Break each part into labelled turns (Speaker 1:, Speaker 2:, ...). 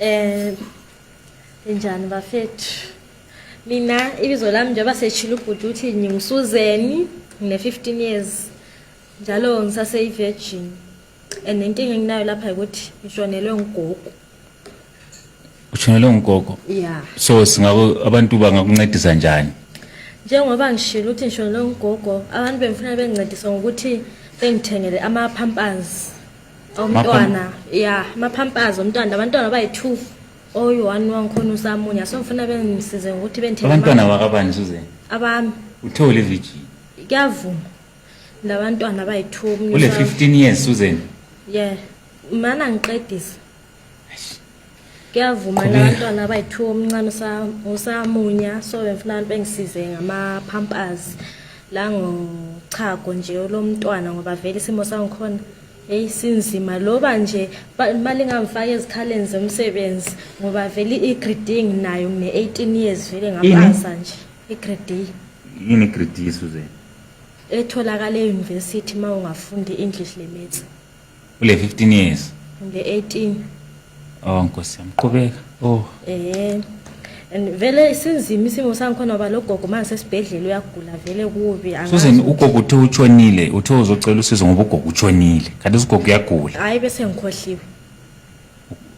Speaker 1: Eh njani bafethu mina ibizo lami njengoba seshilo ubhuti uthi ngingusuzeni ngine-15 years njalo ngisaseyi-virgin and inkinga enginayo lapha ukuthi ngishonelwe ngugogo ushonelwe
Speaker 2: ngugogo ya so
Speaker 1: singako
Speaker 2: abantu bangakuncedisa njani njengoba
Speaker 1: ngishilo ukuthi ngishonelwe ngugogo abantu bengifuna bengincedisa ngokuthi bengithengele ama-pampers umntwana ya amaphampazi omntwana abantwana bayi-two oyi-one wangikhona usamunya so ngifuna bengisize ngokuthi bentheabantwana bakabani suzeni
Speaker 2: abami uthe
Speaker 1: ule virgin
Speaker 2: kuyavuma
Speaker 1: labantwana bayi-two ule fifteen years
Speaker 2: suzeni ye
Speaker 1: mana ngiqedise kuyavuma la bantwana abayithiwa omncane usamunya so bengifuna abantu bengisize ngama-pampers la ngochago nje olomntwana ngoba vele isimo sangikhona eyi sinzima loba nje imali ingangifaka ezikhaleni zomsebenzi ngoba vele i-grading nayo ngine-eighteen years vele ngapasa nje i-grade yini i-grade
Speaker 2: suze etholakala
Speaker 1: eyunivesithi uma ungafundi i-english limits Ule
Speaker 2: 15 years. Nge 18.
Speaker 1: Oh
Speaker 2: Nkosi yami qhubeka. Oh. Eh.
Speaker 1: And vele sinzima isimo sangikhona ngoba lo gogo manje sesibhedlela uyagula vele kubi angazi. Susan ugogo uthe
Speaker 2: utshonile, uthe uzocela usizo ngoba ugogo utshonile. Kanti usigogo uyagula. Hayi bese ngikhohliwe.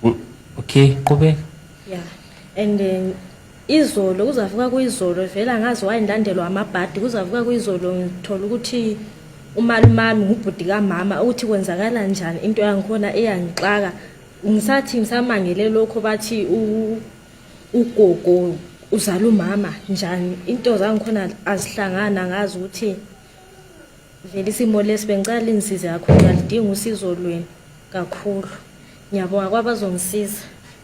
Speaker 1: U-
Speaker 2: Okay, qhubeka. Yeah.
Speaker 1: And then Izolo kuzavuka kuyizolo vela ngaze wayendandelwa amabhadi kuzavuka kuyizolo ngithola ukuthi umalumami ngubhuti kamama ukuthi kwenzakala njani into yangikhona eyangixaka ngisathi ngisamangele lokho bathi ugogo uzala umama njani into zangikhona azihlangana ngazi ukuthi vele isimo lesi bengicela linisize kakhulu ngalidinga usizo lwenu kakhulu ngiyabonga kwabazongisiza